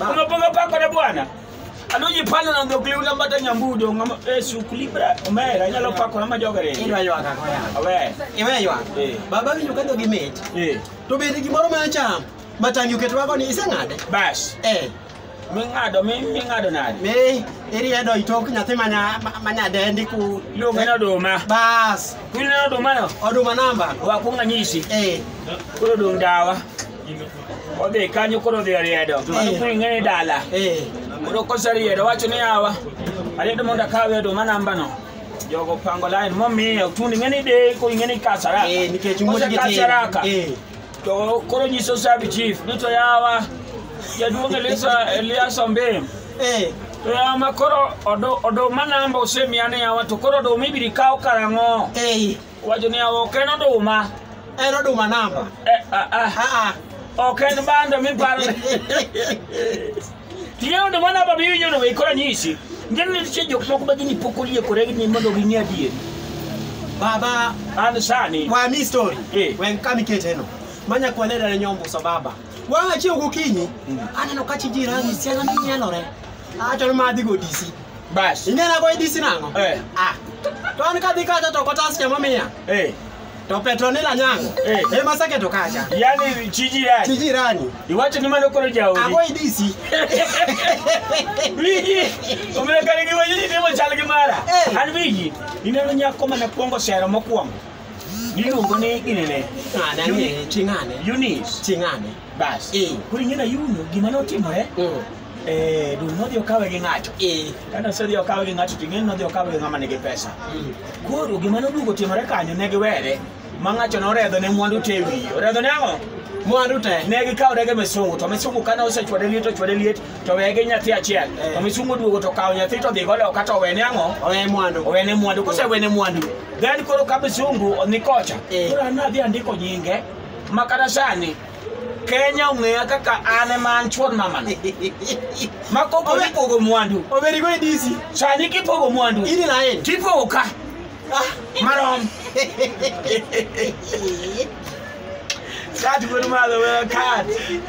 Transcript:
Umepiga pako na bwana. Aluji pale na ndo kliu na mbata nyambudo ngama eh sukuli bra. Omera nyalo pako na majogere. Idwa ywak ako ya. Awe. Iwe ywak. Eh. Baba winjo ka dhogi mit. Eh. To bende gimoro ma acham. Matangi oket wako ni iseng'ade. Bas. Eh. Ming'ado mi ming'ado nani? Mi iriedo itok nyathi manya manya dendi ku Luonge na oduma. bas Kunyina oduma no. oduma namba. Wakunga nyisi. Eh. Koro dong dawa. odhi kanyo koro odhi oriedo mano koro ing'e ni dala Eh, koro koseriedo wacho ni awa ariedo mondo akawe oduma nambano jogo pango lain momiye otundi ing'e ni deko ing'e ni kasaraka eh, nikech wuod gi tin. Kosekasaraka, Eh, to koro nyiso sabi chief ni to yawa jaduong' Elisa- elias ombim eh, to yawa ma koro odo- oduma namba osemiya ni yawa to koro oduma ibiro kaw karang'o eh. Wacho niya ok en oduma. En oduma namba. Eh, ah, ah. Ah, ah. Ok en bando miparo. Tiyo oduma namba miwinjo no ikora nyisi. Ngeni nitie jok moko ma gini pok oliekore ni mondo ging'e adieri. Baba an sani. Wa mi story. Eh. Wen kami keteno. Manya kwa neda nyombo sababa. Wa achio gokinyi. Hmm. Aneno kachi jirani siana minyalore. achọrọ m adịghị odisi bas inye na boy disi nango Eh. ah to an kadhi kacha to kotas chama miya eh to petronila nyango Eh. ema sake to kacha yani chiji yani tijirani iwacho ni mano koro jaodi agoy disi wigi omekare gi wajiji timo chal gi mara Eh. an wigi ineno nyako mana kwongo sero mokwongo niluongo ni ginene ng'ane ang'eye ching'ane yunis ching'ane Bas. Eh. Koro ing'e na yuno gima ne otimore Mm. eh, dul nodhi okawe gi ng'ato Eh. kane osedhi okawe gi ng'ato to ing'eni nodhi okawe gi ng'ama nigi pesa Mm. koro gima noduogo timore kanyo ne giwere ma ng'ato noredho ne mwandu te wiye oredho ne ang'o Mwandu te. ne gikawo rege misungu to misungu kane osechwade liet ochwade liet to weye gi nyathi achiel Eh. to misungu oduogo to kawo nyathi to dhigo loka to owene ang'o Owe mwandu. owene mwandu kosewene mwandu then koro ka misungu ni kocha Eh. koro an nadhi andiko nyinge ma kata sani kenya ong'eya kaka an ema an chuon mamana ma kopo nipogo mwandu oberigo e disi sani kipogo mwandu ini na en tipogo ka marom kat wuod malo wewe kat